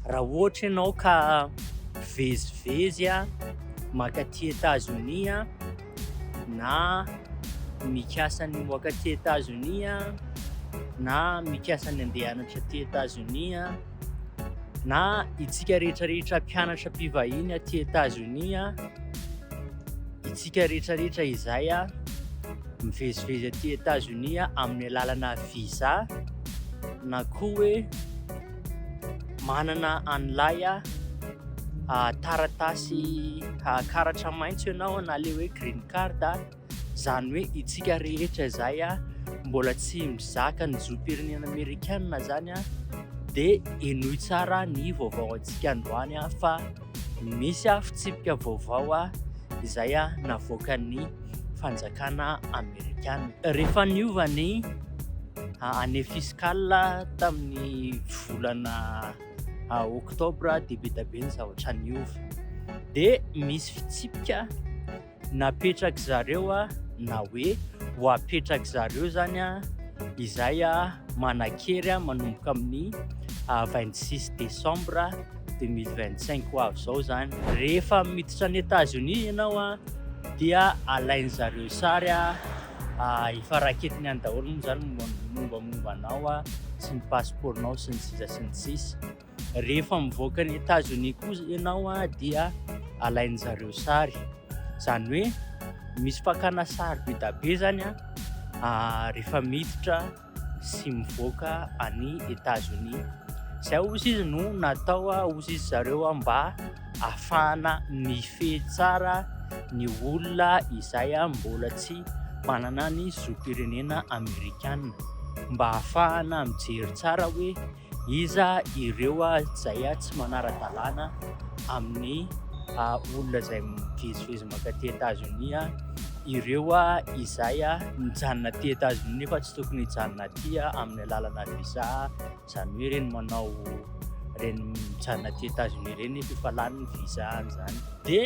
Raha ohatra ianao ka mivezivezy mankaty Etazonia na mikasa ny himoaka aty Etazonia na mikasa ny handeha hianatra aty Etazonia na itsika rehetrarehetra mpianatra mpivahiny aty Etazonia, itsika rehetrarehetra izay mivezivezy aty Etazonia amin'ny alalana visa na koa hoe manana an'ilay taratasy karatra maitso ianao na ilay hoe green card, izany hoe isika rehetra izay mbola tsy mizaka ny zom-pirenena amerikanina izany dia henoy tsara ny vaovao antsika androany fa. Nisy aho fitsipika vaovao aho izay navoakan'ny fanjakana amerikana. Rehefa niova ny année fiscale tamin'ny volana octobre dia be dia be ny zavatra niova dia misy fitsipika. napetrak'zareo na hoe ho apetrak'zareo zany izay manan-kery manomboka amin'ny vingt six décembre deux mille vingt cinq ho avy izao zany. Rehefa miditra any Etazonia ianao dia alain'zareo sary efa raketiny any daholo moa zany ny mombamomba anao sy ny pasipaoronao sy ny sisa sy ny sisa. Rehefa mivoaka an'i Etazonia koa ianao dia alain'ny zareo sary. Izany hoe misy fakana sary be dia be izany rehefa miditra sy mivoaka an'i Etazonia. Izay hozy izy no natao hozy izy zareo mba hahafahana mifehy tsara ny olona izay mbola tsy manana ny zom-pirenena amerikana mba hahafahana mijery tsara hoe Iza ireo izay tsy manara-dalàna amin'ny olona izay mivezivezy mankaty Etazonia? Ireo izay mijanona aty Etazonia nefa tsy tokony hijanona aty amin'ny alalanà visa, izany hoe ireny manao, ireny mijanona aty Etazonia ireny nefa efa lany ny visa-ny izany. Dia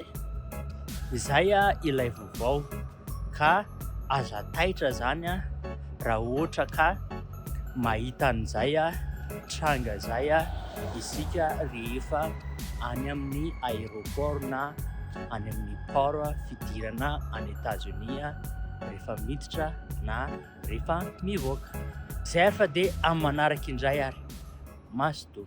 izay ilay vaovao. ka aza taitra zany raha ohatra ka mahita an'izay tranga izay isika rehefa any amin'ny aéroport na any amin'ny port fidirana any Etazonia rehefa miditra na rehefa mivoaka. Zay ary fa dia amin'ny manaraka indray ary. Mazotoa.